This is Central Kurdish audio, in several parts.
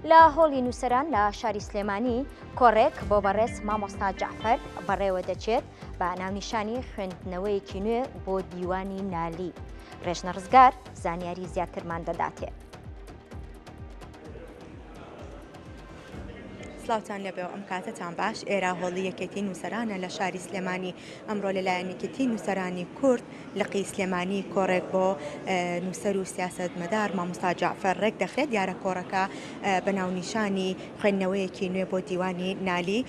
لە هۆڵی نووسەران لە شاری سلێمانی کۆڕێک بۆ بەڕێز مامۆستا جعفەر بەڕێوە دەچێت بە ناونیشانی خوێندنەوەیەکی نوێ بۆ دیوانی نالی ڕێژنە ڕزگار زانیاری زیاترمان دەداتێ. سلاوتان لەبێ ئەم کاتتان باش ئێرا هۆڵی یەکێتی نووسەرانە لە شاری سلێمانی ئەمڕۆ لەلایەنێکێتی نووسەرانی کورد لقی سلێمانی کۆڕێک بۆ نووسەر و سیاسەتمەدار مامۆستا جەعفەر ڕێک دەخرێت، دیارە کۆڕەکە بە ناونیشانی خوێندنەوەیەکی نوێ بۆ دیوانی نالی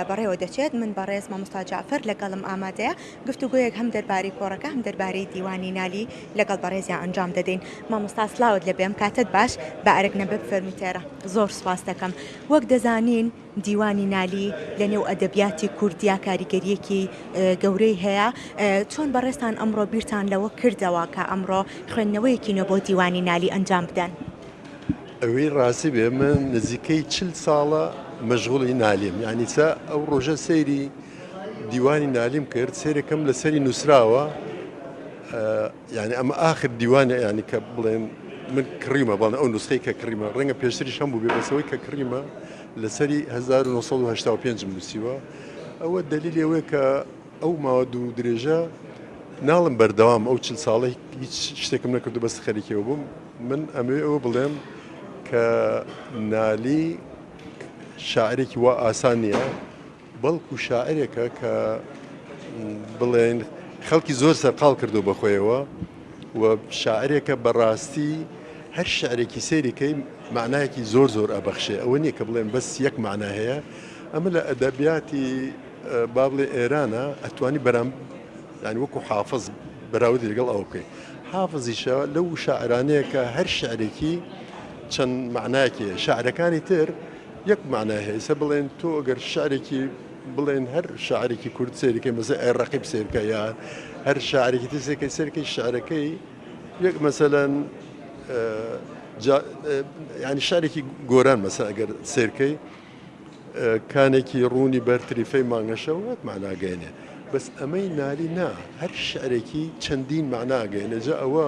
بەڕێوە دەچێت، من بەڕێز مامۆستا جەعفەر لەگەڵم ئامادەیە، گفتوگۆیەک هەم دەربارەی کۆڕەکە هەم دەربارەی دیوانی نالی لەگەڵ بەڕێزیان ئەنجام دەدەین. مامۆستا سڵاوت لێ بێم، کاتت باش بە ئەرک نەبێ بفەرموو تێرە. زۆر سوپاست دەکەم. وەک دەزانین. دیوانی نالی لە نێو ئەدەبیاتی کوردیا کاریگەرییەکی گەورەی هەیە، چۆن بەڕێزتان ئەمڕۆ بیرتان لەوە کردەوە کە ئەمڕۆ خوێندنەوەیەکی نوێ بۆ دیوانی نالی ئەنجام بدەن؟ ئەوەی ڕاستی بێ من نزیکەی چل ساڵە مەشغوڵی نالیم، یانی سا ئەو ڕۆژە سەیری دیوانی نالیم کرد سەیرێکم لەسەری نووسراوە، یانی ئەمە ئاخر دیوانە یانی کە بڵێن من کڕیمە بەڵێ ئەو نوسخەی کە کڕیمە ڕەنگە پێشتریش هەم بوو بێ بەسەوەی کە کڕیمە لەسەری 1995 نووسیوە ئەوە دەلیل ئەوەیە کە ئەو ماوە دوو درێژە ناڵم بەردەوام ئەو چل ساڵی هیچ شتێکم نەکردو بەس خەریکەوە بووم من ئەمێ ئەوە بڵێم کە نالی شاعرێکی وا ئاسان نییە بەڵکو شاعرێکە کە بڵێن خەڵکی زۆر سەرقاڵ کردو بە خۆیەوە و شاعرێکە بەڕاستی هەر شعرێکی سەیرەکەی معناەکی زۆر زۆر ئەبەخشێ ئەوە نییە کە بڵێن بەس یەک معنا هەیە ئەمە لە ئەدەبیاتی بابڵێ ئێرانە ئەتوانی بەرام یعنی وەکو حافظ بەراود لەگەڵ ئەو بکەین حافزیشە لەو شاعرانەیە کە هەر شعرێکی چەند معناکی شعرەکانی تر یەک مەعنای هەیە ئیستا بڵێن تۆ گەر شعرێکی بڵێن هەر شاعرێکی کورد سەیرکەی مەسە ئەی ڕەقیب سەیرکە یا هەر شاعرێکی تر سەیرکەی سەرکەی شعرەکەی یەک مەسەلەن ینی شارێکی گۆران مەسا ئەگەر سێرکەی کانێکی ڕوونی بەرتریفەی مانگەشەوە وەک ماناگەێنێ بەس ئەمەی نالی نا هەر شعرێکی چەندین معناگەێنە جا ئەوە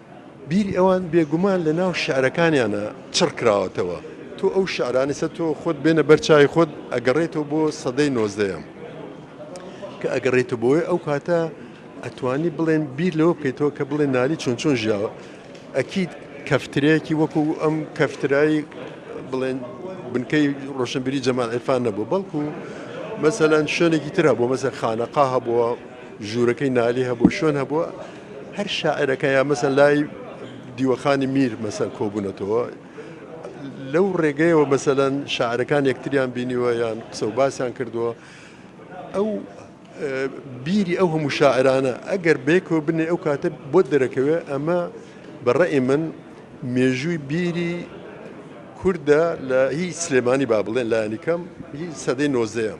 بیری ئەوان بێگومان لە ناو شعرەکانیانا چڕ کراوەتەوە. تۆ ئەو شعرانەی سەر تۆ خۆت بێنە بەر چاوی خۆت ئەگەڕێیتەوە بۆ سەدەی نۆزدەیەم. کە ئەگەڕێیتەوە بۆی ئەو کاتە ئەتوانی بڵێن بیر لەوە بکەیتەوە کە بڵێ نالی چۆن چۆن ژیاوە. ئەکید کەفترەیەکی وەکو ئەم کەفترای بڵێن بنکەی ڕۆشنبیری جەمال عیرفان نەبوو بەڵکو مەسەلەن شوێنێکی تر هەبوو مەسەلەن خانەقا هەبووە، ژوورەکەی نالی هەبوو شوێن هەبووە. هەر شاعیرەکە یا مەسەن لای دیوەخانی میر مەسەن کۆبوونەتەوە لەو ڕێگەیەوە مەسەەن شاعرەکان یەکتریان بینیوە یان قسە و باسیان کردووە ئەو بیری ئەو هەموو شاعرانە ئەگەر بێکەوە بنێ ئەو کاتە بۆ دەرەکەوێ ئەمە بەڕێ من مێژووی بیری کووردە لە هی سلێمانی با بڵێن لایەنی کەم هی سەدەی نۆزەیەم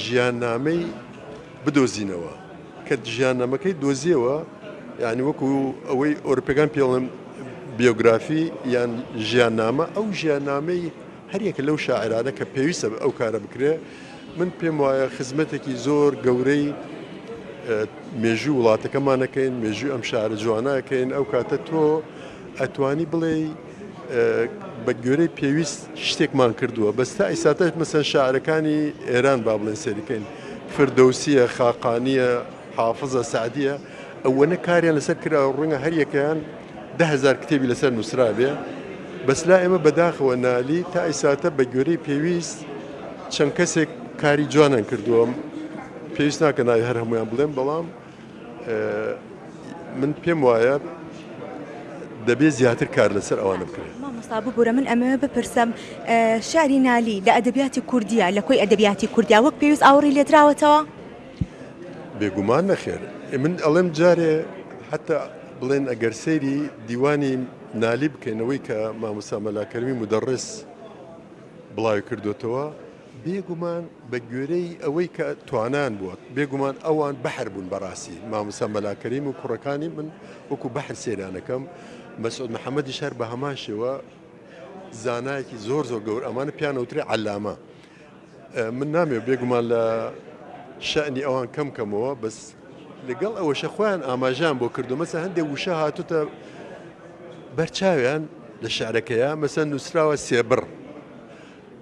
ژیاننامەی بدۆزینەوە کە ژیاننامەکەی دۆزیەوە یانی وەکو ئەوەی ئۆرپەکان پێڵم بیۆگرافی یان ژیاننامە ئەو ژیاننامەی هەریەکە لەو شاعرانە کە پێویستە بە ئەو کارە بکرێ من پێم وایە خزمەتێکی زۆر گەورەی مێژوو وڵاتەکەمانەکەین مێژوو ئەم شارە جوانەکەین ئەو کاتە تۆ ئەتوانی بڵێ بە گوێرەی پێویست شتێکمان کردووە بەس تا ئیساتەش مەسەن شاعرەکانی ئێران با بڵێن سەریکەین فردەوسیە خاقانیە حافظە سعدیە ئەوەنە کاریان لەسەر کرا ڕوونە هەریەکەیان دههزار کتێبی لەسەر نووسرابێ بەس لا ئێمە بەداخەوە نالی تا ئیساتە بە گوێرەی پێویست چەند کەسێک کاری جوانان کردووەم پێویست ناکە ناوی هەر هەمویان بڵێم بەڵام من پێم وایە دەبێت زیاتر کار لەسەر ئەوانە بکرێت مامۆستا ببورە من ئەمەوێ بپرسم شاری نالی لە ئەدەبیاتی کوردیە لە کۆی ئەدەبیاتی کوردیا وەک پێویست ئاوڕی لێدراوەتەوە بێگومان نەخێر من ئەڵێم جارێ حتا بڵێن ئەگەر سەیری دیوانی نالی بکەینەوەی کە مامۆسا مەلاکەرمی مدەڕێس بڵاوی کردوێتەوە بێگومان بە گوێرەی ئەوەی کە توانایان بووە بێگومان ئەوان بەحر بوون بەڕاستی مامۆستا مەلا کەریم و کوڕەکانی من وەکو بەحر سێرانەکەم مەسعود محەممەدی شار بە هەمان شێوە زانایەکی زۆر زۆر گەور ئەمانە پیانەوتری عەلامە من نامێ بێگومان لە شەعنی ئەوان کەم کەمەوە بەس لەگەڵ ئەوەشە خۆیان ئاماژان بۆ کردو مەسە هەندێک وشە هاتوتە بەرچاویان لە شارەکەیە مەسە نووسراوە سێبڕ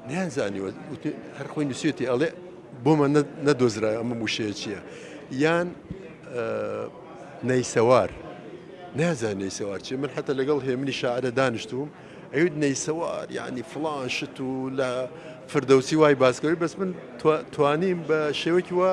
نەیان زانیوە هەر خۆی نووسێتی ئەڵێ بۆمە نەدۆزرا ئەمە موشەیە چییە یان نەیسەوار نازان نەیسەوار چی من حتا لەگەڵ هێمنی شاعرە دانیشتوم ئەوت نەیسەوار یعنی فلان شت و لە فردەوسی وای باسکەوی بەس من توانیم بە شێوەکی وە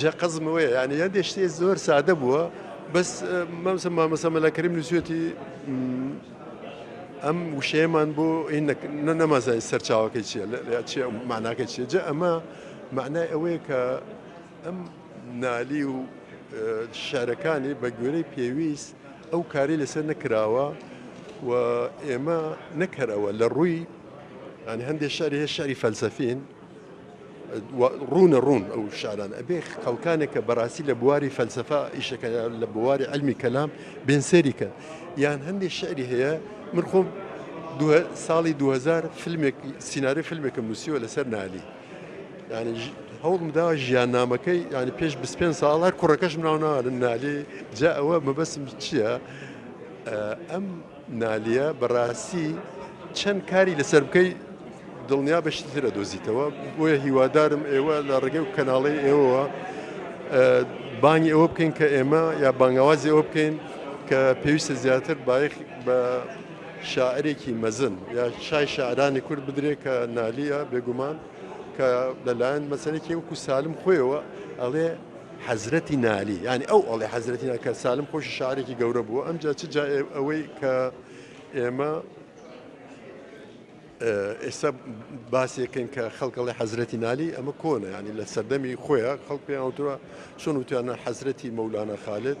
جا قەزم ئەوەیە یانی هەندێ شتێ زۆر سادە بووە بەس مەمسە مامەسە مەلاکریم نووسێتی ئەم وشەیەمان بۆ نەمەزای سەرچاوەکەی چیە چی ماناکە چیە جە ئەمە معنای ئەوەیە کە ئەم نالی و شارەکانی بە گوێرەی پێویست ئەو کاری لەسەر نەکراوە و ئێمە نەکەرەوە لە ڕووی هەندێک شاری هەیە شاری فەلسەفین ڕوونە ڕوون ئەو شاران ئەبێ خەڵکانێک کە بەڕاستی لە بواری فەلسفە ئیشەکە لە بواری ئەلمی کەلام بێن سەریکەن یان هەندێک شعری هەیە من خۆم ساڵی 2000 فیلمێک سیننااری فیلمێکم نووسیوە لەسەر نالی ینی هەوڵمدا ژیان نامەکەی ینی پێش 25 ساڵ هەر کوڕەکەش مناوناوە نالی جا ئەوە مەبەسم چییە؟ ئەم نالیە بەڕاستی چەند کاری لەسەر بکەی دڵنیا بە شتی ترە دۆزیتەوە بۆیە هیوادارم ئێوە لە ڕێگەی و کەناڵی ئێوەوە بانگی ئەوە بکەین کە ئێمە یا بانگاوازی ئەوە بکەین کە پێویستە زیاتر بایخ بە شاعرێکی مەزن یا شای شاعرانی کورد بدرێ کە نالیە بێگومان کە لەلایەن مەسەرێکی وەکو سالم خۆیەوە ئەڵێ حەزرەتی نالی یانی ئەو ئەڵێ حەزرەتی نالی کە سالم خۆشی شاعرێکی گەورە بووە ئەمجا چ جا ئەوەی کە ئێمە ئێستا باسێکن کە خەڵکەڵی حەزرەتی نالی ئەمە کۆنە ینی لە سەردەمی خۆیان خەڵک پێیانوتوە چۆن وتیانە حەزرەتی مەولانە خالێت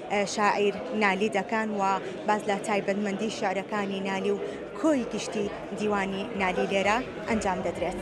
شاعیر نالی دەکان و باس لە تایبەتمەندی شیعرەکانی نالی و کۆی گشتی دیوانی نالی لێرە ئەنجام دەدرێت.